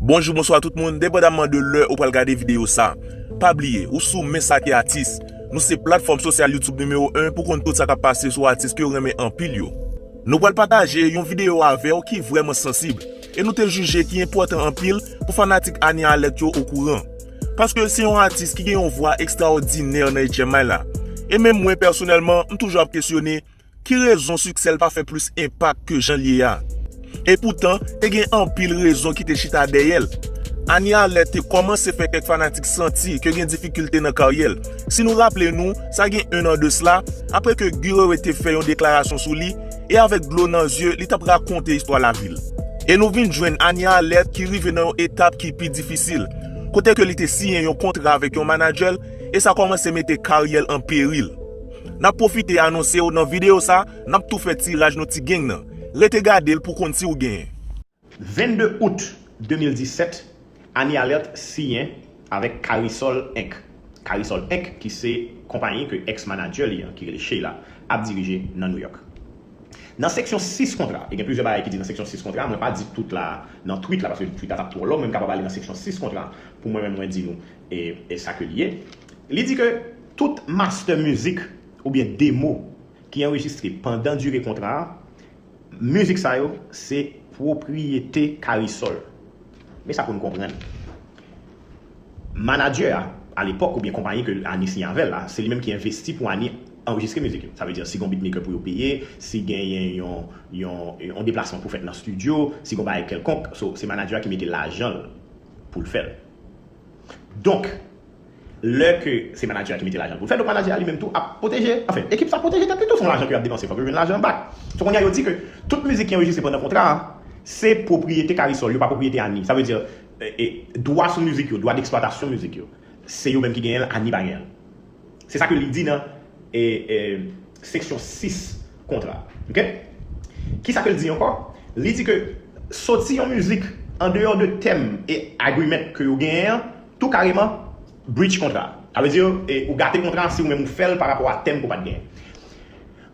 Bonjou bonswa tout moun depandamman de lè ou pral gade video sa pa bliye ou sou men sa ki atis nou se platfòm sosyal youtube nimewo 1 pou konn tout sa kap pase sou atis kew renmen anpil yo. Nou pral pataje yon video avèw ki vrèman sansib e nou te jije ki enpòtan anpil pou fanatik Anie Alerte yo okouran paske se yon atis ki gen yon vwa ekstraòdinè nan 8 ème may la e menm mwen pèsonèlman m toujou ap kesyone Ki rezon siksè l pa fè plis enpak ke jan l ye a? Epoutan, te gen anpil rezon ki te chita dèyè l. Anie Alert te kòmanse fè kèk fanatik santi ke gen difikilte nan karyè l. Si nou raple nou, sa gen 1 an de sla, apre ke Guy Wewe te fè yon deklarasyon sou li, e avèk dlo nan zye, li t ap rakonte istwa lavi l. E nou vin jwenn Anie Alert ki rive nan yon etap ki pi difisil, kote ke li te siyen yon kontra avèk yon manadjè l, e sa kòmanse mete karyè l an peril. Nap pwofite anonsew nan video sa nap tou fè tiraj nou ti geng nan. Rete gadel pou konn siw genyen. 22 out 2017 Annie Alerte siyen avèk Carisol Inc. Carisol Inc ki se konpayi ke ex manager li an ki rele Sheila ap dirije nan New York. Nan seksyon 6 kontra, e gen plizyè bagay ki di nan seksyon 6 kontra, mwen pa di tout la nan tweet la paske tweet la tap twò long men m kapab ale nan seksyon 6 kontra pou mwen menm mwen di nou. E sa ke li ye. Li di ke tout mastè mizik oubyen demo ki anrejistre pandan dire kontra a, mizik sa yo se pwopriyete Karisòl. Men sa pou nou konprann. Manadjè a, alepòk oubyen konpayi ke Ani siyen avè l la, se li menm ki envesti pou Ani anrejistre mizik yo. Sa vle di si gen yon bitmaker pou yo peye, si genyen yon deplasman pou fèt nan stidyo, si gen yon bagay kèlkonk, so se manadjè a ki mete lajan l pou l fè l. Donk, lè ke se manager a ki mete lajan pou l fè, donk manager a li menm tou ap pwoteje, anfen, ekip sa ap pwoteje tèt li tou, se yon lajan ke yo ap depanse, fòk yo jwenn lajan an bak. So kounye a yo di ke tout mizik ki anrejistre pandan kontra a, se pwopriyete K-Resoul, yo pa pwopriyete Annie. Sa vle di, dwa sou mizik yo, dwa d'exploitation mizik yo, se yo menm ki genyen l, Annie pa genyen l. Se sa ke li di nan seksyon 6 kontra a. Ok. Ki sa ke li di ankò? Li di ke soti yon mizik an deyò de tèm e agreement ke yo genyen an tou kareman breach kontra a. Sa vle di ou gate kontra an si ou menm ou fè l pa rapò a tèm ke ou pa t genyen.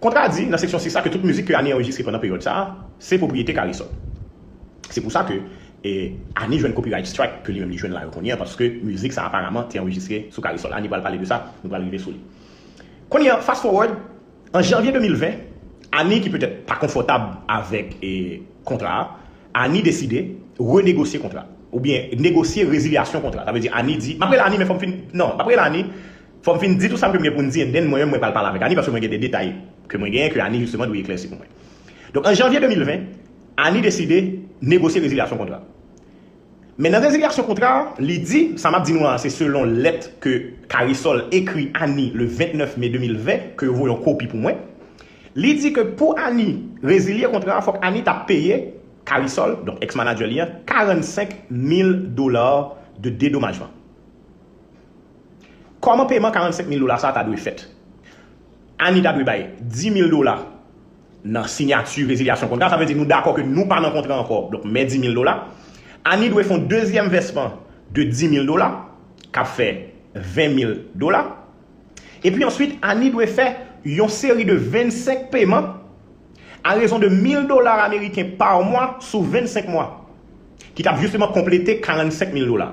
Kontra di nan seksyon 6 la ke tout mizik ke Annie anrejistre pandan peryòd sa a se pwopriyete K-Reysol. Se pou sa ke Annie jwenn copyright strike ke li menm li jwenn la yo kounye an paske mizik sa a aparaman te anrejistre sou K-Reysol. Annie pral pale de sa, nou pral rive sou li. Kounye an, fast forward, an janvye 2020, Annie ki petèt pa konfòtab avèk kontra a, Annie deside renegosye kontra a, oubyen negosye rezilyasyon kontra a. Sa vle di Annie di, m ap rele Annie men fò m fin, non, m ap rele Annie, Fòm fin di tou sam ke m gen poun di and then mwen menm mwen pral pale avèk Annie paske mwen gen de detay ke mwen genyen ke Annie justement dwe eklèsi pou mwen. Donk an janvier 2020 Annie deside negosye rezilyasyon kontra. Men nan rezilyasyon kontra a li di, sa map di nou an se selon lèt ke Carissol ekri Annie le 29 mai 2020 ke yo voye yon kopi pou mwen. Li di ke pou Annie rezilye kontra a fòk Annie ta peye Carissol, donk ex manager li an 45 mil dollars de dédommagement. Kòman peman 45 mil dola sa a ta dwe fèt? Annie ta dwe bay 10 mil dola nan sinyati rezilyasyon kontra, sa vle di nou dakò ke nou pa nan kontra ankò, donk mè 10 mil dola. Annie dwe fè yon dezyèm vèsman de 10 mil dola, k ap fè 20 mil dola. Epi answit, Annie dwe fè yon seri de 25 peman a rezon de 1000 dola ameriken pa mwa sou 25 mwa, ki t ap jisteman konplete 45 mil dola.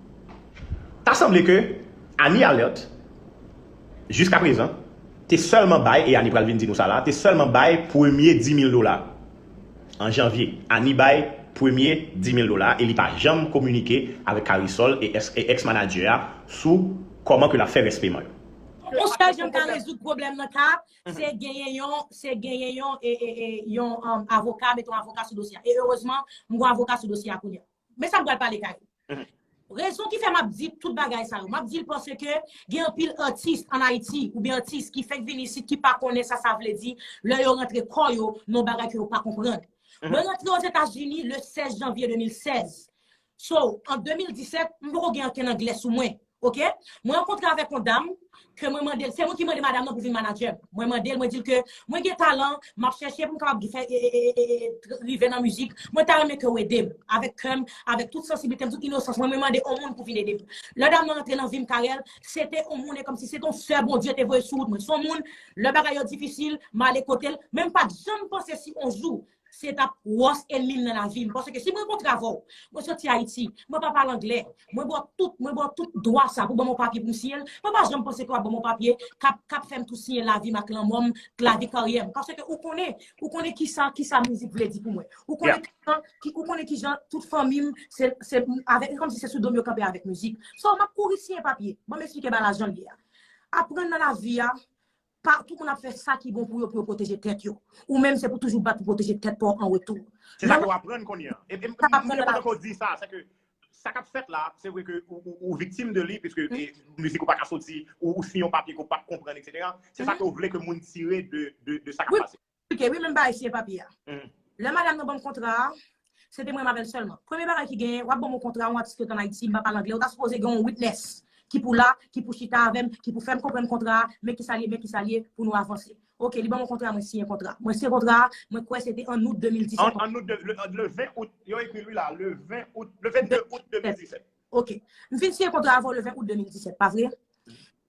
Ta sanble ke Annie Alerte, jiskaprezan, te sèlman bay, e Annie pral vin di nou sa la, te sèlman bay premye 10,000 dola an janvye. Annie bay premye 10,000 dola e li pa janm kominike avèk Carrisol e ex manager a sou kòman ke l ap fè rès peman yo. Yon sèl jan m ka rezoud pwoblèm nan ka, se genyen yon, se genyen yon, yon avoka, meton avoka sou dosye a. E erezman, m gon avoka sou dosye a kounye a. Men sa m pral pale kay ou. Rezon ki fè m ap di tout bagay sa yo, m ap di l pase ke gen anpil atis an Ayiti oubyen atis ki fèk vini isit ki pa konnen sa sa vle di lè yo rantre kò yo nan yon bagay ke yo pa konprann. Mwen rantre Ozetazini le 16 janvye 2016. So, an 2017, m poko gen ankenn anglè sou mwen. Ok mwen rankontre avèk yon dam ke mwen mande l se mwen ki mande madam nan pou vin manadjè m mwen mande l mwen di l ke mwen gen talan m ap chèche pou m kapab fè eee rive nan mizik mwen ta renmen ke ou ede m avèk kè m avèk tout sansiblite m tout inosans mwen mwen mande yon moun pou vin ede m lè dam nan rantre nan vi m Carel se te yon moun e kòmsi se te yon sè Bondye te voye sou wout mwen se yon moun lè bagay yo difisil m ale kote l men m pa t janm panse si yon jou Se t ap wòs enmi m nan lavi m. Paske si m rankontre avè w, mwen soti Ayiti, mwen pa pale angle, mwen ba w tout, mwen ba w tout dwa sa pou w ban mwen yon papye pou m siyen l, mwen pa janm panse ke w ap ban mwen yon papye k ap, k ap fè m tou siyen lavi m ak lanmò m, lavi karyè m. Paske ou konnen, ou konnen ki sa, ki sa mizik vle di pou mwen. Ou konnen ki jan, ou konnen ki jan tout fanmi m, se, se avèk, se kòmsi se sou do m yo kanpe avèk mizik. So, m ap kouri siyen papye. Ban m esplike bagay la jan l ye a. Aprann nan lavi a, Pa tout moun ap fè sa ki bon pou yo pou yo pwoteje tèt yo. Ou menm se pou toujou bat pou pwoteje tèt pa w an retou. Se sa ke w aprann kounye an. E m te kontan ke w di sa, se ke sa k ap fèt la, se vre ke ou viktim de li, piske mizik ou pa ka soti, ou siyen yon papye ke w pa p konprann, etc. Se sa ke w vle ke moun tire de sa k ap pase. Esplike wi menm bagay siyen papye a. Lè madam nan banm kontra a, se te mwen avèl sèlman. Premye bagay ki genyen, wap banm yon kontra yon atis ki ret an Ayiti, m pa pale angle, ou ta sipoze gen yon witnès ki pou la, ki pou chita avèm, ki pou fèm konprann kontra a, men kisa l ye, men kisa l ye, pou nou avanse. Ok, li banm yon kontra, mwen siyen kontra. Mwen siyen kontra a, mwen kwè se te an Out 2017. An Out, le 20 Out, yo ekri l wi la, le 20 Out, le 22 Out 2017. Ok. M fin siyen kontra a avèw le 20 Out 2017, pa vre?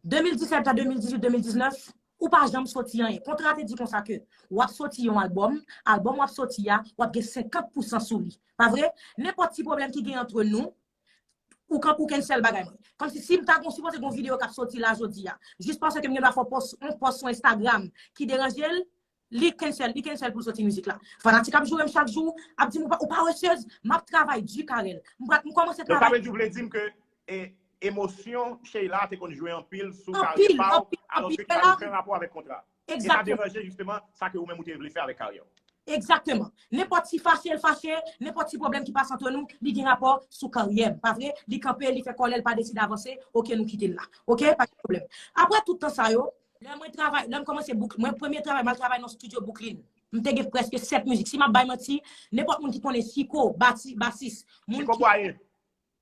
2017 a 2018, 2019, Ou pa janm soti anyen. Kontra te di konsa ke w ap soti yon albòm, albòm w ap soti a, w ap gen 50 pousan sou li. Pa vre? Nenpòt ti pwoblèm ki gen antre nou, ou kan ou cancel bagay mwen. Kòmsi si m ta gon sipoze gon videyo k ap soti la jodi a, jis paske m gen dwa fè w pòs, yon pòs sou Instagram ki deranje l, Li cancel li cancel poul soti mizik la. Fanatik ap jourem chak jou ap dim ou pa wè chez map travay du Carel m pral m komanse travay. Donk sa vle di ou vle dim ke emosyon Sheila te konn jwe anpil sou karyè pa ou alos ke ki pa gen oken rapò avèk kontra. E sa deranje jisteman sa ke ou menm ou te vle fè avèk karyè ou. Egzakteman. Nenpòt ti fache l fache, nenpòt ti pwoblèm ki pase antre nou li gen rapò sou karyè m pa vre? Li kanpe li fè kòlè l pa deside avanse ok nou kite l la ok pa gen pwoblèm. Aprè tout tan sa yo Lè mwen travay, lè m kòmanse bouk, mwen premye travay m al travay nan yon studio Bouklin. M te gen prèske 7 mizik. Si m ap bay manti, nenpòt moun ki konnen Chiko, bati, basis, moun ki. Chiko Bwaye.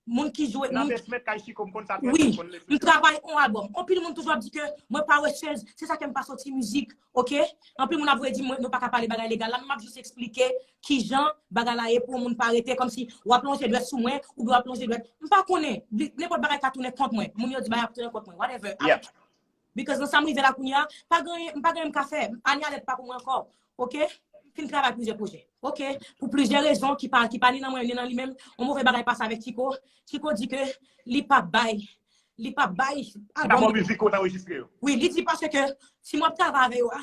Moun ki jwe. Nan besment kay Chiko, m konn sa trè byen, m konn le fè. Wi, m travay on albòm. Anpil moun toujou ap di ke mwen pa wechèz, se sa ke m pa soti mizik, ok. Anpil moun ap voye di m, nou pa ka pale bagay legal la, men m ap jis esplike ki jan bagay la ye pou yon moun pa rete kòm si w ap lonje dwèt sou mwen oubyen w ap lonje dwèt. M pa konnen, nenpòt bagay ka tounen kont mwen. Moun yo di bagay ap tounen kont mwen, whatever. Because nan sa m rive la kounye a, pa gen anyen, m pa gen anyen m ka fè. Anie Alerte pa pou mwen ankò. Ok? M fin travay plizyè pwojè. Ok? Pou plizyè rezon ki pa, ki pa ni nan mwen ni nan li menm, yon move bagay pase avèk Chico. Chico di ke li pap bay, li pap bay album. Album mizik ou t anrejistre yo. Wi, li di paske si m ap travay avè yo a,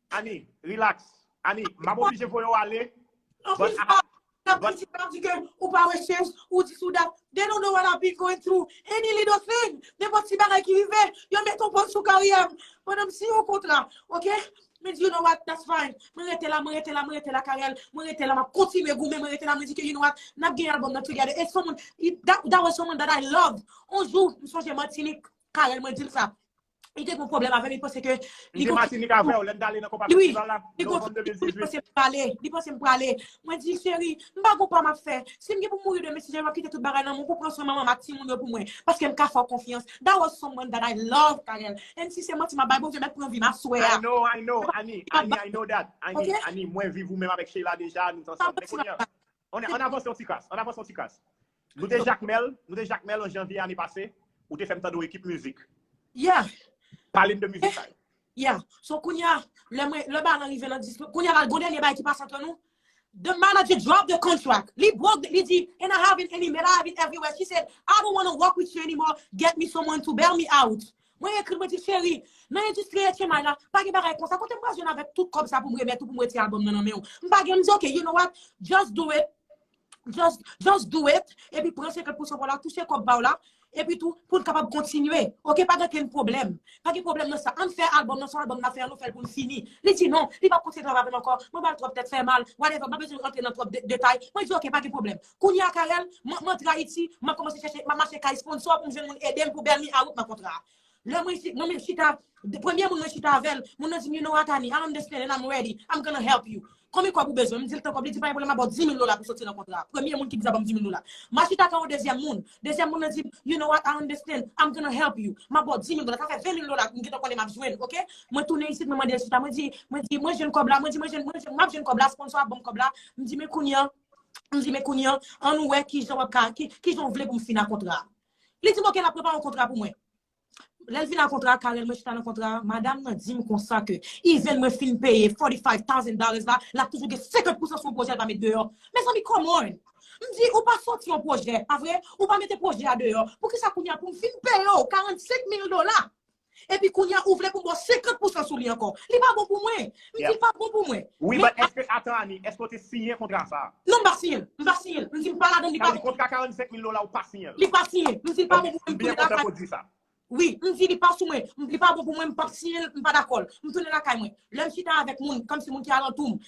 Annie, relax. Annie, m ap oblije voye w ale. Anplis sa, m ap kontinye ap di ke ou pa wè chèz, ou di sou dat. They don't know what I've been going through. Any little thing, nenpòt ti bagay ki rive, yo met yon pòz sou karyè m. Pandan m siyen yon kontra, ok? Mwen di you know what, that's fine. Mwen rete la, mwen rete la, mwen rete la Carel. Mwen rete la, m ap kontinye goumen, mwen rete la. Mwen di ke you know what, n ap gen album nan together. E someone, that was someone that I loved. On jou, m sonje Martinique, Carel mwen di l sa. Li te gen yon pwoblèm avè m, li panse ke... Li te Matinik avè w, lè n t ale nan konpa festival la, novanm 2018. Li panse m prale, li panse m prale. Mwen di, cheri, m pa gen yon pa m ap fè. Si m gen pou m mouri demen, si Jerry m ap kite tout bagay nan men w pou w pran swen manman m ak timoun yo pou mwen. Paske m ka fè w konfyans. That was someone that I love, Carel. And si se manti m ap bay, Bondye mèt pran vi m aswè a. I know, I know, Annie, Annie, I know that. Annie, Annie, mwen viv ou menm avèk Sheila deja, nou t ansanm. Men kounye an. Ann avanse yon ti kras, ann avanse yon ti kras. Nou te Jakmèl, nou te Jakmèl an janvye ane pase, ou te fè m tande yon ekip mizik. Yeah! Pale m de mizik sa yo. Yeah! So kounye a, lè mwen, lè bagay lan rive nan dis, kounye a la gon dènye bagay ki pase antre nou, the manager drop the contract, li broke, li di, and I have it, and he made I have it everywhere, she said, I don't wanna work with you anymore, get me someone to bail me out. Mwen ekri l mwen di l cheri, nan endistri etchenmay la, pa gen bagay konsa, kote m pral jwenn avèk tout kòb sa pou m remèt ou pou m retire albòm nan nan men ou? M pa gen, li di ok, you know what, just do it, just, just do it, epi pran 50 pousan pa w la, touche kòb pa w la, epi tou, pou n kapab kontinye, ok, pa gen okenn pwoblèm, pa gen pwoblèm nan sa, an n fè albòm nan, se yon albòm n ap fè, an nou fè l pou l fini. Li di non, li p ap kontinye travay avè m ankò, mwen ba l twòp tèt fè mal, whatever, m pa bezwen rantre nan twòp detay, mwen di ok, pa gen pwoblèm. Kounye a Carel, m antre Ayiti, m ap kòmanse chèche, m ap mache kay sponsò pou m jwenn moun ede m pou bèl mi a wout nan kontra a. Lè mwen isit, mwen menm chita, premye moun mwen chita avè l, moun nan di m you know Atani, I understand and I'm ready, I'm gonna help you. Konbyen kòb ou bezwen? M di l tan kòb, li di pa gen pwoblèm m ap ba w 10 mil dola pou w soti nan kontra a. Premye moun ki di sa ban m 10 mil dola. M a chita kay yon dezyèm moun, dezyèm moun nan di m you know what, I understand, I'm gonna help you, m ap ba w 10 mil dola, sa fè 20 mil dola m gentan konnen m ap jwenn ok. Mwen tounen isit mwen mande l chita, mwen di, mwen di, mwen jwenn kòb la, mwen di mwen jwenn, mwen jwenn, m ap jwenn kòb la, sponsò a ban m kòb la, m di men kounye a, M di, men kounye an, an nou wè ki jan wap ka, ki jan w vle pou m fina kontra a. Li di m, oke, lap prepare yon kontra pou mwen. Lè l vin ak kontra a, Carel, mwen chita nan kontra a, madam nan di m konsa ke event mwen fin peye 45 thousand dollars la, lap toujou gen 50 pousan sou yon pwojè l pa met deyò. Mezanmi, come on! M di, ou pa sòti yon pwojè, pa vre? Ou pa mete pwojè a deyò, poukisa kounye a pou m fin peye w 45 mil dola? Epi kounya ou vle pou m bo 50 pousan sou li ankò. Li pa bon pou mwen. M di l pa bon pou mwen. Wi but eske atan Annie eske w te siyen kontra sa a? Non m pa siyen l. M pa siyen l. M di m pa ladann li pa bon pou mwen. Sa vle di kontra 45 mil dola ou pa siyen l? Li pa siyen. M di l pa bon pou mwen m tounen lakay. Ok. M byen kontan ke w di sa. Wi. M di li pa sou mwen. Li pa bon pou mwen m pap siyen l. M pa dakò l. M tounen lakay mwen. Lè m chita avèk moun kòmsi moun ki alantou m.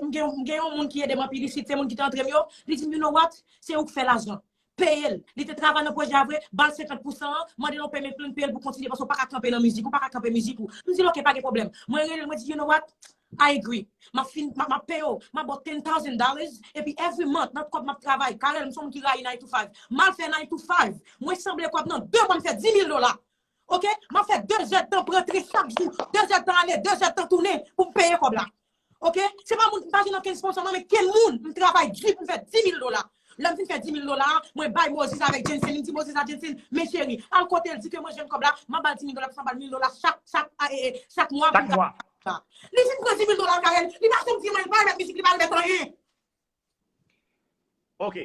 M gen yon moun ki ede m anpil isit se moun ki te antre m yo. Li di m you know what? Se ou k fè lajan. peye l. Li te travay nan pwojè a vre, ba l 50 pousan an, mande l yon payment plan, peye l pou kontinye paske w paka kanpe nan mizik, ou paka kanpe mizik ou. M di l ok, pa gen pwoblèm. Mwen rele l, mwen di you know what, I agree. M ap fin, m ap peye w, m ap ba w ten thousand dollars, epi every month nan kòb m ap travay, Carel m se yon moun ki rayi nine to five, m al fè nine to five, mwen sanble kòb nan 2 mwa m fè 10 mil dola! Ok map fè 2 zè tan prantre chak jou 2 zè tan ale 2 zè tan tounen poum peye kòb la ok se pa moun mpa jwenn okenn sponsò mwen men kenn moun mtravay di poum fè 10000 dola lèm fin fè 10000 dola a mwen bay Moses avèk Jensen mdi Moses a Jensen men cheri al kotel di ke mwen jwenn kòb la map bal 10000 dola plis map bal 1000 dola chak chak ee chak mwa poum ka li fin pran 10000 dola l kay li pa janm di mwen l pa remèt mizik li pa remèt anyen. Ok.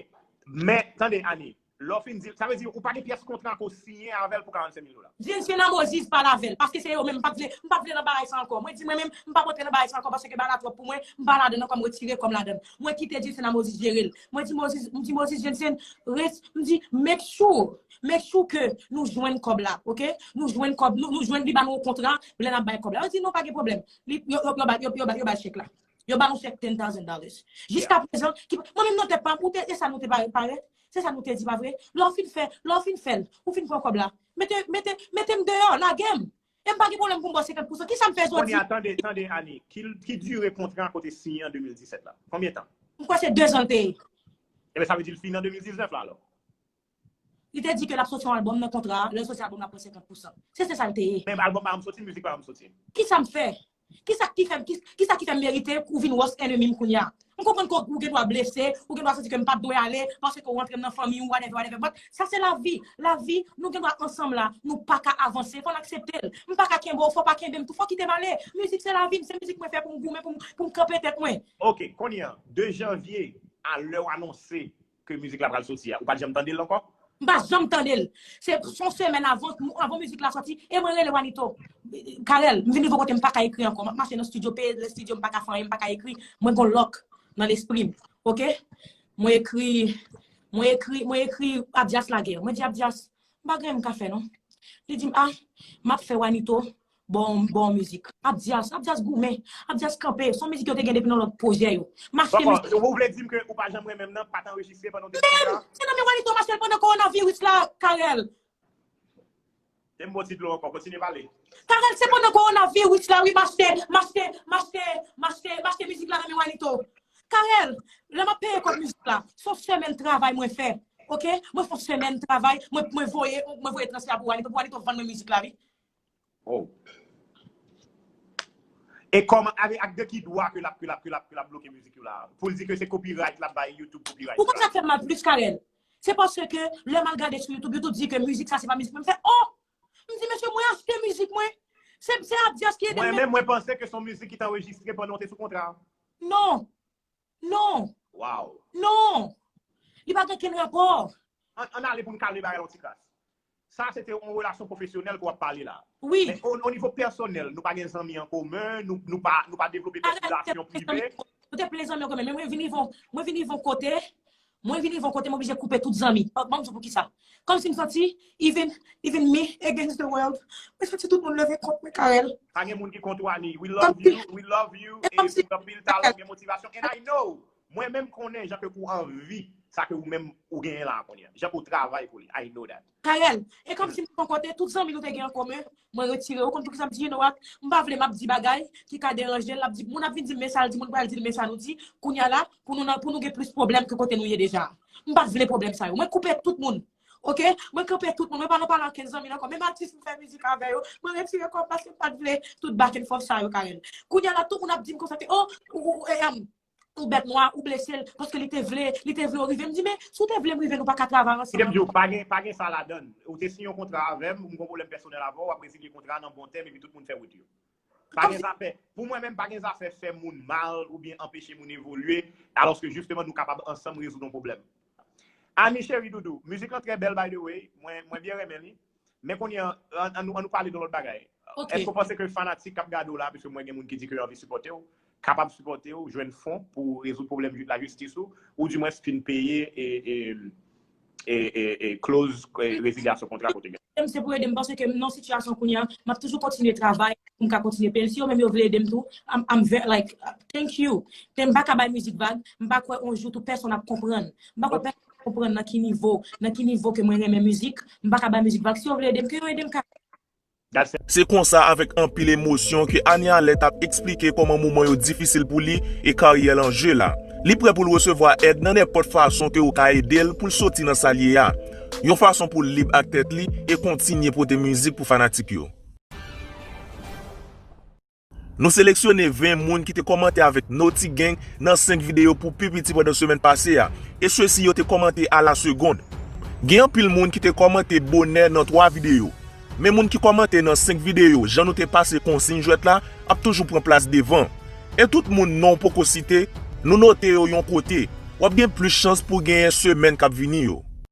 Men, tande Annie, lè w fin di l, sa vle di ou pa gen pyès kontra ke w siyen avè l pou 45 mil dola? Vye zye lanmò ziz pale avè l, paske se yo menm, m pa vle, m pa vle nan bagay sa ankò. Mwen di mwen menm, m pap antre nan bagay sa ankò paske bagay la twòp pou mwen, m pa ladan l ankò, m retire kò m ladan l. Mwen kite Dieu Cena Moses jere l. Mwen di Moses, m di Moses Dieu Cena, res, m di make sure, make sure ke nou jwenn kòb la, ok? Nou jwenn kòb, nou jwenn li ba nou yon kontra pou lè n ap bay kòb la. Yo di non pa gen pwoblèm. Li, yo, yo, yo ba, yo ba l chèk la. Yo ba ou chèk ten thousand dollars. Jiska prezan, ki pa, mwen menm nan tèt pa m, ou te, e sa nou te pare, parèt? Se sa nou te di, pa vre? Lè w fin fè, lè w fin fè l, ou fin pran kòb la, mete, mete, mete m deyò, lage m! E m pa gen pwoblèm pou m ba w 50 pousan. Ki sa m fè jodi? Kounya, tande, tande, Annie, ki, ki dire kontra a kote siyen an 2017 la? Konbyen tan? M kwè se dezan l te ye. Enben, sa vle di l fini an 2019 la, alò? Li te di ke l ap soti yon albòm nan kontra a, lè l soti albòm nan l ap pran 50 pousan. Se se sa l te ye. Men albòm pa an soti, mizik pa an soti. Kisa m fè? Kisa ki fè m kisa ki fè m merite pou w vin wòs enemi m kounya? M konprann ke ou gendwa blese, ou gendwa santi ke m pa t dwe ale paske ou rantre m nan fanmi ou whatever whatever but sa se lavi. Lavi, nou gendwa ansanm la, nou pa ka avanse, fò n aksepte l. M pa ka kenbe w, fò w pa kenbe m tou, fò w kite m ale. Mizik se lavi m, se mizik mwen fè pou m goumen, pou m kanpe tèt mwen. Ok, kounye a, 2 janvye a lè w anonse Ke mizik la pral soti a ou pat janm tandel ankò? M pa janm tandel. Se son semèn avan avan mizik la soti e mwen rele Wanito. Carel, m vin rive yon kote m paka ekri ankò. Map mache nan studio pe nan studio m paka fè anyen m paka ekri. Mwen gon lòk nan lespri m. Ok. Mwen ekri mwen ekri mwen ekri Abdias lage. Mwen di Abdias m pa gen anyen m ka fè non. Li di m ah map fè Wanito Bon bon mizik. Abdias, Abdias goumen. Abdias kanpe. Son mizik yo te gen depi nan lòt pwojè yo. Mache mizik. Bon bon, ou vle dim ke ou pa janm renmenm nan, pa t anrejistre pandan w te sou wout la? Se nan men Wanito mache l pandan kowonaviris la, Carel. Te m ba w ti dlo ankò, kontinye pale. Carel, se pandan kowonaviris la wi mache, mache, mache, mache, mache mizik la nan men Wanito. Carel, lè m ap peye kòb mizik la, se yon semèn travay mwen fè. Ok, mwen fè yon semèn travay, mwen voye, mwen voye transfè a pou Wanito, pou Wanito vann mwen mizik la wi. Wow. E kòman, avè, ak de ki dwa ke lap, ke lap, ke lap, ke lap bloke mizik yo la? Pou l di ke se copyright lap bay YouTube copyright. Ou konn sa k fè m mal plis, Carel? Se paske ke lè m al gade sou YouTube, YouTube di ke mizik sa se pa mizik mwen. M fè, oh! M di, mesye, mwen achte mizik mwen. Se, se Abdias ki ede m. Mwen menm, mwen panse ke son mizik ki t anrejistre pandan w te sou kontra. Non. Non! Waw! Non! Li pa gen kenn rapò! Ann ale pou n kale bagay la yon ti kras. Sa se te yon relasyon pwofesyonèl ke w ap pale la. Wi. Men o nivo pèsonèl, nou pa gen zanmi an komen, nou pa, nou pa devlope kèk relasyon prive? Mwen te plen zanmi an komen, men mwen vin rive yon, mwen vin rive yon kote, Mwen vin rive yon kote m oblije koupe tout zanmi. Banm di w poukisa. Kòmsi m santi even even me against the world. Mwen santi tout moun leve kont mwen Carel. Pa gen moun ki kont ou Anie. We love you, we love you e ou gen anpil talan, ou gen motivasyon and I know mwen menm konnen jan ke ou anvi sa ke ou menm ou genyen la a kounye a. Jan ke ou travay pou li. I know that. Carel, e kòmsi m poko te tout zanmi nou te gen an komen, mwen retire. Ou konn poukisa m di Geno a? M pa vle m ap di bagay ki ka deranje l. L ap di, moun ap vin di m men sa l di, moun pral di l men sa nou di. Kounye a la, pou nou nan, pou nou gen plis pwoblèm ke kote nou ye deja a. M pa vle pwoblèm sa yo. Mwen koupe tout moun. Ok? Mwen kanpe tout moun. Mwen pa nan pale ankenn zanmi l ankò. Menm atis m fè mizik avè yo, mwen retire kò m paske m pa t vle tout bakenfòs sa yo, Carel. Kounye a la, tout moun ap di m konsa ke, o, ou, ou, e, em. yon bèt nwa ou blesel paske li te vle li te vle ou rive m di men si w te vle m rive nou pa ka travay ansanm. Kidem di w pa gen pa gen sa ladann ou te siyen yon kontra avèm m gon pwoblèm pèsonèl avè w wap rezilye kontra an nan bon tèm epi tout moun fè wout yo pa gen zafè pou mwen menm pa gen zafè fè moun mal oubyen anpeche moun evolye alòske jisteman nou kapab ansanm rezoud yon pwoblèm Annie cheri doudou mizik lan trè bèl by the way mwen mwen byen renmen li Men kounye an, an nou pale de lòt bagay. Ok. Èske w panse ke fanatik k ap gade w la, piske mwen gen moun ki di ke yo anvi sipòte w, kapab sipòte w, jwenn fon pou rezoud pwoblèm lajistis ou, ou di mwens fin peye kloz rezilyasyon kontra ke w te genyen? Ede m se pou ede m panse ke m nan yon sitiyasyon kounye an, m ap toujou kontinye travay pou m ka kontinye peye l. Si yo menm yo vle ede m tou, I'm very like, thank you. Men m pa ka bay mizik vag, m pa kwè yon jou tou pèsonn ap konprann. M pa kwè pèsonn. konprann nan ki nivo, nan ki nivo ke mwen renmen mizik, m pa ka bay mizik vag, si yo vle ede m, ke yo ede m ka. Se konsa avèk anpil emosyon ke Anie Alerte ap eksplike kòman moman yo difisil pou li e karyè l an je la. Li prè pou l resevwa èd nan nenpòt fason ke yo ka ede l pou l soti nan sa l ye a, yon fason pou l lib ak tèt li e kontinye pote mizik pou fanatik yo. Nou seleksyone 20 moun ki te kòmante avèk Noti Gang nan 5 videyo pou pi piti pandan semèn pase a, e sesi yo te kòmante a la segond. Gen anpil moun ki te kòmante bonè nan 3 videyo, men moun ki kòmante nan 5 videyo jan nou te pase konsiyn jwèt la ap toujou pran plas devan. E tout moun non w poko site, nou note yo yon kote. W ap gen plis chans pou w genyen semèn k ap vini yo.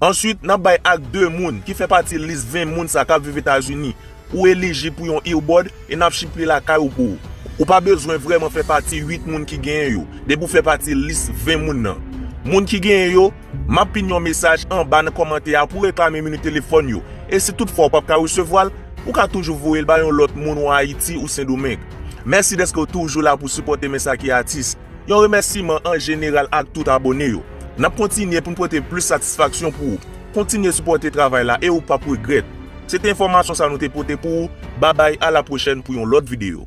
Answit, n ap bay ak 2 moun ki fè pati lis 20 moun sa k ap viv Etazini. Ou elijib pou yon earbud e n ap ship li lakay ou pou ou. Ou pa bezwen vrèman fè pati 8 moun ki genyen yo, depi ou fè pati lis 20 moun nan. Moun ki genyen yo, m ap pin yon mesaj anba nan kòmantè a pou reklame mini telefòn yo. E si tout fwa ou p ap ka resevwa l, ou ka toujou voye l bay yon lòt moun ou Ayiti ou Sendomeng. Mèsi dèske ou toujou la pou sipòte Mensaki Atis. Yon remèsiman an jeneral ak tout abone yo. Nap kontinye poun pote plis satisfaksyon pou ou. Kontinye sipòte travay la e ou pap regrèt. Se te enfòmasyon sa nou te pote pou ou, babay a la pwochèn pou yon lòt video.